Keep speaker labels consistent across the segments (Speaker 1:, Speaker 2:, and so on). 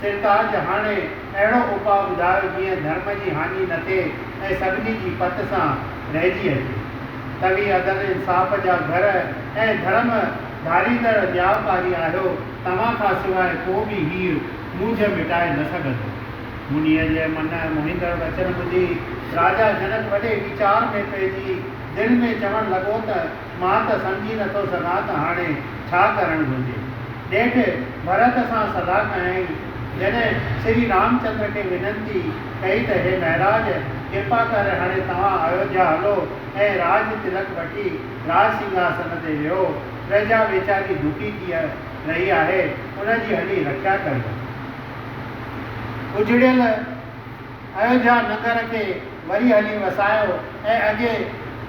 Speaker 1: سرتاج، هاڻي اهڙو اپاء ٻڌايو جيئن ڌرم جي هاڃي نه ٿئي ۽ سڀني جي پت سان رهجي هلجي. توهين عدل انصاف جا گهر ۽ ڌرم ڌاريندڙ نياوڪاري آهيو، توهان کان سواء ڪو به هيء موجهه مٽائي نه سگهندو. منيء جي من موهيندڙ وچن ٻڌي راجا جنڪ وڏي ويچار ۾ پئجي دل ۾ چوڻ لڳو ته، مان ته سمجهي نه ٿو سگهان ته هاڻي ڇا ڪرڻ گهرجي. نيٺ ڀرت سان صلاح ڪيائين. جڏهن شري رامچندر کي ونتي ڪئي ته هي مهراج! ڪرپا ڪري هاڻي توهان ايوڌيا هلو ۽ راج تلڪ وٺي راج سنگهاسن تي ويهو. پرجا ويچاري ڀوڪي ٿي رهي آهي، ان جي هلي رکيا ڪريو. اجڙيل. ايوڌيا نگر کي وري هلي وسايو ۽ اڳي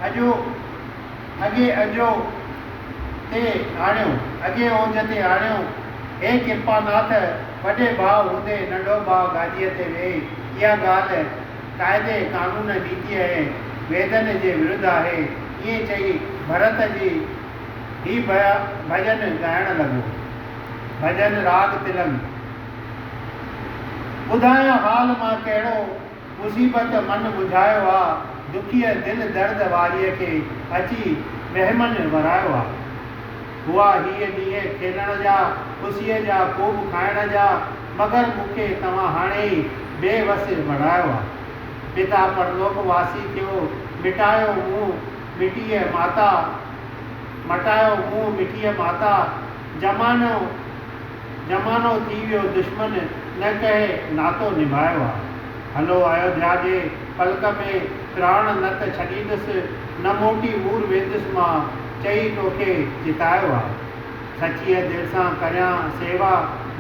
Speaker 1: اجهو اڳي اجهو تي آڻيو اڳي اوج تي آڻيو. هي ڪرپاناٿ وڏي ڀاء هوندي ننڍو ڀاء گاديء تي ويهي اها ڳالهه قاعدي قانون نيتيء ۽ ويدن جي ورڌ آهي ائين چئي ڀرت جي هي ڀڄن ڳائڻ لڳو. ڀڄن راڳ تلنگ. ٻڌايان حال مان ڪهڙو، مصيبت من ٻڌايو آ، دکيء دل درد واريء کي، اچي مهمن ورايو آ. هئا هيء ڏينهن کيلڻ جا، خوشيء جا، خوب کائڻ جا، مگر مون کي توهان هاڻي ئي بي وس بڻايو آ. پتا پرلوڪ واسي ٿيو، مٽايو مون مٽيء ماتا، مٽايو مون مٺيء ماتا، زمانو. زمانو ٿي ويو دشمن نه ڪهي ناتو نڀايو آ. هلو آيوڌيا جي پلڪ ۾ پراڻ نه ته ڇڏيندس نه موٽي مور ويندس مان چئي توکي جتايو آ. سچيء دل سان ڪريان سيوا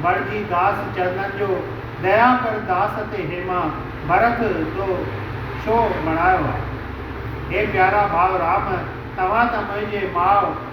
Speaker 1: بڻجي داس چرنن جو ديا ڪر داس تي هيما ڀرت جو ڇو بڻايو آ. هي پيارا ڀاء رام توهان ته منهنجي ماء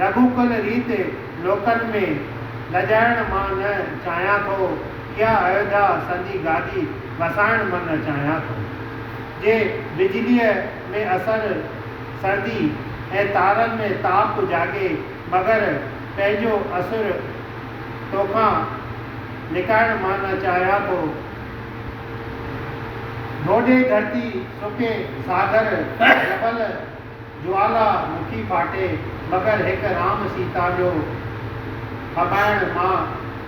Speaker 1: رڳو ڪل ريت لوڪن ۾ لڄائڻ مان نه چاهيان ٿو، اها ايوڌيا سندي گادي وسائڻ من چاهيان ٿو. جي بجليء ۾ اسر سردي ۽ تارن ۾ تاپ جاڳي مگر پنهنجو اسر توکان لڪائڻ مان نه چاهيان ٿو. ڍوڍي ڌرتي سڪي ساگر جبل جوالا مکي ڦاٽي مگر هڪ رام سيتا جو ڦٻائڻ مان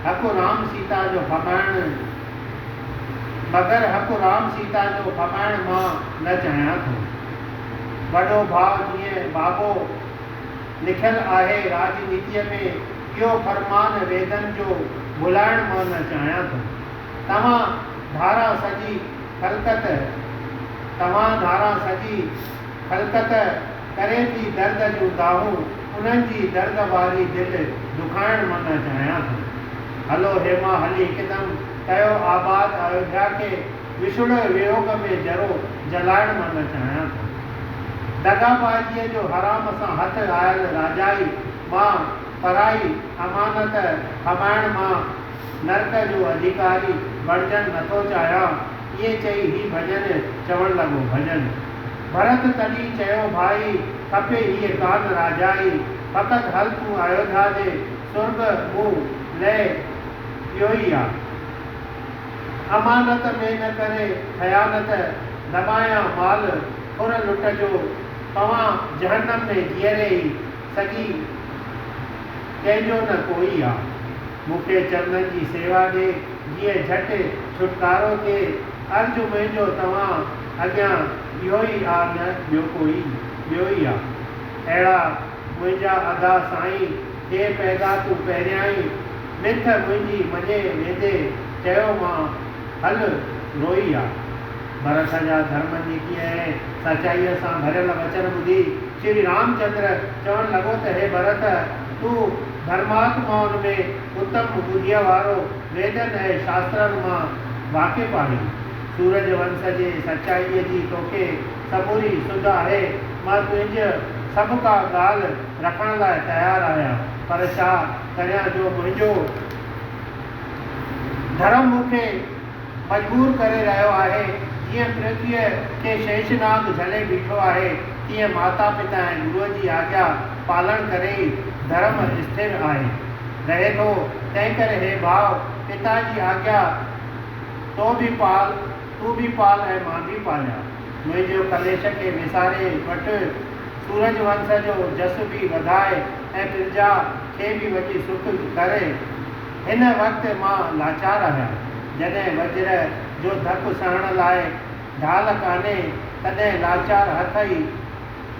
Speaker 1: هڪ رام سيتا جو ڦٻائڻ مگر هڪ رام سيتا جو ڦٻائڻ مان نه چاهيان ٿو. وڏو ڀاء جيئن بابو لکيل آهي راڄنيتيء ۾ اهو فرمان ويدن جو ڀلائڻ مان نه چاهيان ٿو. توهان ڌاران سڄي خلقت توهان ڌاران سڄي خلقت ڪري ٿي درد جون دانهون انهن جي درد واري دل دکائڻ منڱ چاهيان ٿو هلو هيما هلي هڪدم ڪيو آباد ايوڌيا کي وڇوڙي ويوڳ ۾ جرو جلائڻ منڱ چاهيان ٿو دغابازيء جو حرام سان هٿ آيل راجائي مان پرائي امانت کٻائڻ مان نرڪ جو اڌيڪاري بڻجڻ نٿو چاهيان ائين چئي هي ڀڄن چوڻ لڳو، ڀڄن. ڀرت تڏهن چيو، ڀائي! کپي هيء ڪانه راجائي، فقط هل تون آيوڌيا ڏي، سرڳ مون لئه اهوئي آ. امانت ۾ نه ڪري خيانت، دٻايان مال خور لٽ جو، پوان جهنم ۾ جيئري ئي. سڄي ڪنهن جو نه ڪوئي آ. مون کي چرنن جي سيوا ڏي جيئن جهٽ ڇوٽڪارو ٿئي. عرض منهنجو توهان اڳيان اهو ئي آ نه ٻيو ڪوئي ٻيو ئي آ. اهڙا منهنجا ادا سائين ٿئي پيدا تون پهريائين مٿ منهنجي مڃي ويندي چيو مان هل روئي آ. برس جا ڌرم نيتيء ۽ سچائيء سان ڀريل وچن ٻڌي. شري رامچندر چوڻ لڳو ته هي ڀرت! تون ڌرماتمائن ۾ اتم ٻڌيء وارو، ويدن ۽ شاسترن مان واقف آهين. سورج ونس جي سچائيء جي توکي سموري سڌ آهي. مان تنهنج سڀ ڪا ڳالهه رکڻ لاء تيار آهيان، پر ڇا ڪريان جو منهنجو ڌرم مون کي مجبور ڪري رهيو آهي، جيئن پرٿويء کي شيش ناگ جهلي بيٺو آهي، تيئن ماتا پتا ۽ گروء جي آجيا پالڻ ڪري ئي ڌرم اسٿر آهي رهي ٿو، تنهنڪري هي ڀاء، پتا جي آجيا تو به پال، تون به پال ۽ مان به پاليان. منهنجو ڪليش کي وساري وٺ، سورج ونس جو جس به وڌاء ۽ پرجا کي به وڄي سک ڪر. هن وقت مان لاچار آهيان. جڏهن وجهر جو ڌڪ سهڻ لاء ڍال ڪانهي تڏهن لاچار هٿ ئي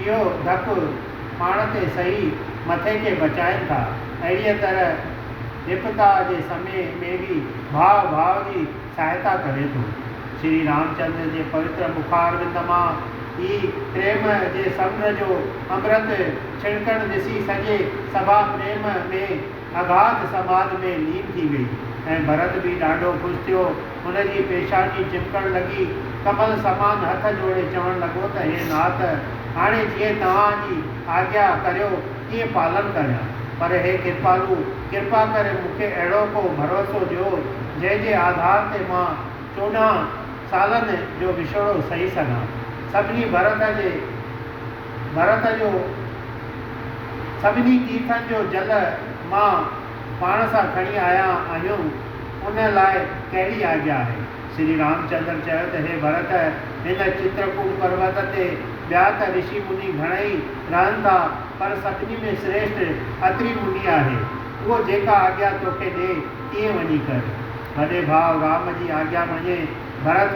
Speaker 1: اهو ڌڪ پاڻ تي سهي مٿي کي بچائين ٿا. اهڙيء طرح وپتا جي سمي ۾ به ڀاء ڀاء جي سهائتا ڪري ٿو. شري رامچندر جي پوتر مخاربند مان ئي پريم جي سمنڊ جو امرت ڇڻڪڻ ڏسي سڄي سڀا پريم ۾ آباد سماج ۾ لين ٿي وئي ۽ ڀرت به ڏاڍو خوش ٿيو. هن جي پيشاني چمڪڻ لڳي. ڪمل سمان هٿ جوڙي چوڻ لڳو ته هي نات! هاڻي جيئن توهان جي آجيا ڪريو تيئن پالن ڪريان. پر هي ڪرپالو! ڪرپا ڪري مون کي اهڙو ڪو ڀروسو ڏيو، جنهن جي آڌار تي مان چوڏهن سالن جو وڇوڙو سهي سگهان. سڀني ڀرت جي. ڀرت جو سڀني تيرٿن جو جل مان پاڻ سان کڻي آيا آهيون، ان لاء ڪهڙي آجيا آهي؟ شري رامچندر چيو ته هي ڀرت! هن چترڪوٽ پروت تي ٻيا ته رشي مني گهڻائي رهن ٿا، پر سڀني ۾ سريشٺ اتري مني آهي. اهو جيڪا آجيا توکي ڏي، تيئن وڃي ڪر. وڏي ڀاء رام جي آجيا مڃي ڀرت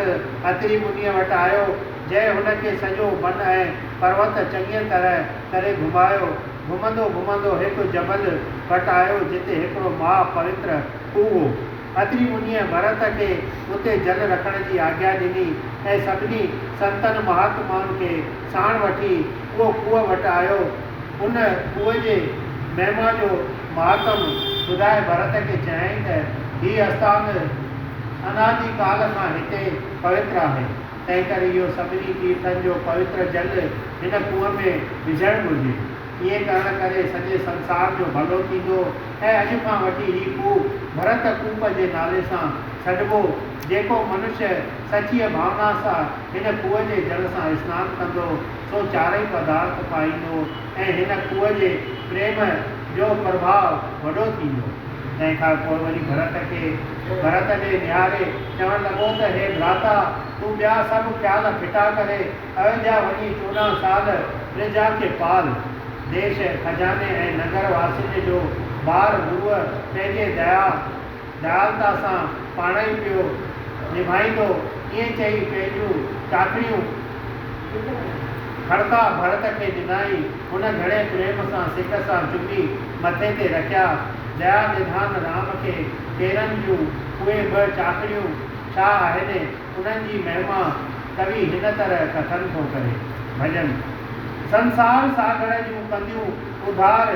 Speaker 1: اتري منيء وٽ آيو، جنهن هن کي سڄو بن ۽ پروت چڱيء طرح ڪري گهمايو. گهمندو گهمندو هڪ جبل وٽ آيو، جتي هڪڙو مها پوتر کوهه هو. اتري منيء ڀرت کي اتي جل رکڻ جي آگيا ڏني ۽ سڀني سنتن مهاتمائن کي ساڻ وٺي اهو کوهه وٽ آيو. ان کوهه جي مهما جو مهاتم ٻڌائي ڀرت کي چيائين ته، هي اسٿان، اناجي ڪال کان هتي پوتر آهي، تنهنڪري اهو سڀني تيرٿن جو پوتر جل هن کوهه ۾ وجهڻ گهرجي. ائين ڪرڻ ڪري سڄي سنسار جو ڀلو ٿيندو ۽ اڄ کان وٺي هي کوهه ڀرت ڪوپ جي نالي سان سڏبو، جيڪو منشيه سچيء ڀاونا سان هن کوهه جي جل سان اسنان ڪندو، سو چارئي پدارٿ پائيندو، ۽ هن کوهه جي پريم جو پرڀاء وڏو ٿيندو. تنهن کان پوء وري ڀرت کي ڀرت ڏي نهاري چوڻ لڳو ته هي ڀراتا تون ٻيا سڀ خيال ڦٽا ڪري ايوڌيا وڃي چوڏهن سال پرجا کي پال. ديش، خزاني ۽ نگر واسين جو بار گروء پنهنجي ديا، ڳالهه ته اسان پاڻ ئي پيو نڀائيندو ائين چئي پنهنجون ٽاڪڙيون کڙڪا ڀڙڪ کي ڏنائين. هن گهڻي پريم سان سڪ سان چمي مٿي تي رکيا. ديا نڌان رام کي پيرن جون اهي ٻه چاڪڙيون ڇا آهن؟ انهن جي مهما ڪوي هن طرح ڪٿن ٿو ڪري. ڀڄن. سنسار ساگهڙ جون ڪنديون اڌار.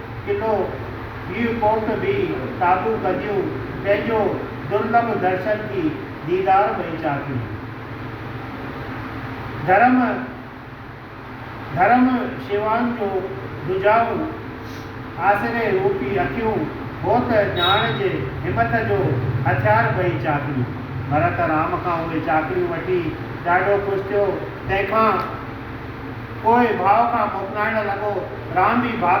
Speaker 1: قلعو ڀيڙ ڪوٽ به تابو ڪجيون تنهنجو درلڀ درشن ٿي ديدار ۾ چاڪي ڌرم ڌرم شيوان جو ڌجائون آسري روپي اکيون هوت ڄاڻ جي همت جو هٿيار ٻئي چاڪي ڀرت رام کان اهي چاڪريون وٺي ڏاڍو خوش ٿيو تنهن کان پوء ڀاء کان موڪلائڻ لڳو. رام به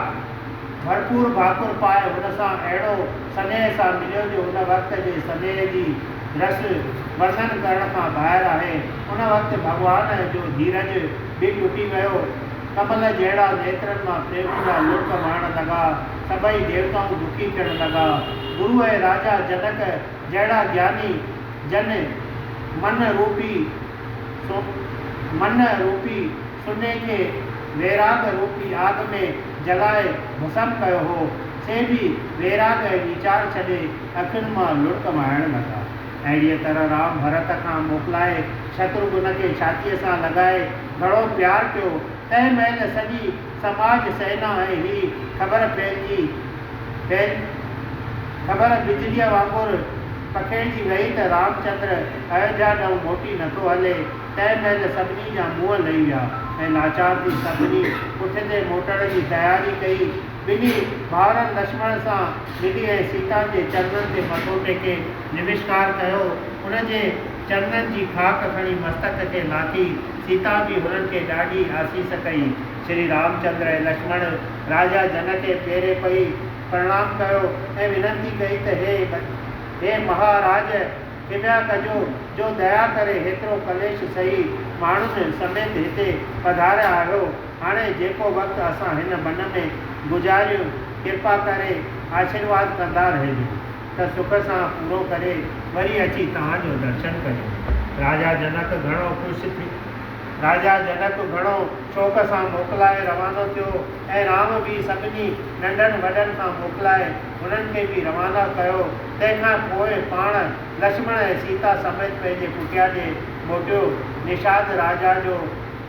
Speaker 1: ڀرپور ڀاڪر پائي هن سان اهڙو سنيهه سان مليو جو ان وقت جي سنيهه جي رس ورنن ڪرڻ کان ٻاهر آهي. ان وقت ڀڳوان جو ڌيرج به ٽٽي ويو. ڪمل جهڙا نيترن مان پريم جا لڙڪ وهڻ لڳا. سڀئي ديوتائون دکي ٿيڻ لڳا. گرو ۽ راجا جنڪ جهڙا گياني جن من روپي سو منھن روپي سني کي ويراڳ روپي آگ ۾ جلائي ڀسم ڪيو ھو، سي به ويراڳ ۽ ويچار ڇڏي اکين مان لڙڪ وھائڻ لڳا. اھڙيء طرح رام ڀرت کان موڪلائي شتروگھن کي ڇاتيء سان لڳائي گھڻو پيار ڪيو، تنھن مھل سڄي سماج سينا ۽ هي خبر ڦهلجي ڦهل خبر بجليء وانگر پکيڙجي ويئي ته رامچندر ايوڌيا ڏانهن موٽي نٿو هلي. تنهن مهل سڀني جا منهن لهي ويا ۽ لاچار ٿي سڀني پٺتي موٽڻ جي تياري ڪئي. ٻنهي ڀائرن لڇمڻ سان ملي ۽ سيتا جي چرنن تي مٿو ٽيڪي نمشڪار ڪيو. ان جي چرنن جي خاڪ کڻي مستڪ کي لاٿي سيتا به هنن کي ڏاڍي آسيس ڪئي. شري رامچندر ۽ لڇمڻ راجا جنڪ کي پيري پئي پرڻام ڪيو ۽ ونتي ڪئي ته هي هي مها راج ڪريا ڪجو جو ديا ڪري هيترو ڪليش سهي ماڻهن سميت هتي پڌاريا آهيو هاڻي جيڪو وقت اسان هن بن ۾ گذاريون ڪرپا ڪري آشيرواد ڪندا رهجو. ته سک سان پورو ڪري وري اچي توهان جو درشن ڪريون. راجا جنڪ گهڻو خوش ٿي راجا جنڪ گهڻو شوق سان موڪلائي روانو ٿيو ۽ رام به سڀني ننڍن وڏن کان موڪلائي هنن کي به روانا ڪيو تنهن کان پوء پاڻ لڇمڻ ۽ سيتا سميت پنهنجي ڪٽيا ڏي موٽيو نشاد راجا جو